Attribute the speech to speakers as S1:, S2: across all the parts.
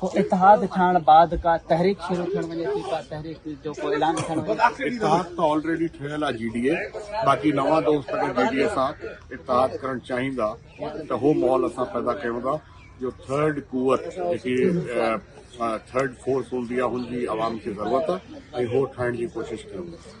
S1: ڪو اتحاد
S2: ٺهڻ بعد ڪا تحريڪ شروع ٿيڻ وڃي ٿي ڪا تحريڪ جو ڪو اعلان ٿيڻ وڃي
S1: ٿي اتحاد ته آلريڊي ٺهيل آهي جي ڊي اي باقي نوان دوست اگر جي ڊي اي سان اتحاد ڪرڻ چاهيندا ته اهو ماحول اسان پيدا ڪيون ٿا جو ٿرڊ قوت جيڪي ٿرڊ فورس هوندي آهي هن جي عوام کي ضرورت آهي ۽ اهو ٺاهڻ جي ڪوشش ڪيون ٿا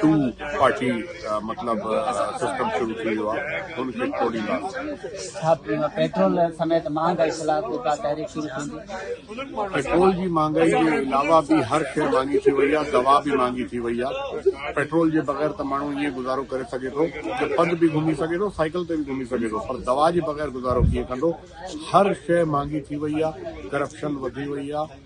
S1: ٽو پارٽي مطلب سسٽم شروع ٿي ويو آهي ان کي ٽوڙينداسين. پيٽرول
S2: سميت مهانگائي خلاف به ڪا تحريڪ شروع ٿيندي؟ پيٽرول
S1: جي مهانگائي جي علاوه به هر شيء مهانگي ٿي وئي آهي، دوا به مهانگي ٿي وئي آهي، پيٽرول جي بغير ته ماڻهو ائين گذارو ڪري سگهي ٿو جو پڳ به گهمي سگهي ٿو، سائيڪل تي به گهمي سگهي ٿو پر دوا جي بغير گذارو ڪيئن ڪندو، هر شيء مهانگي ٿي وئي آهي، ڪرپشن وڌي وئي آهي.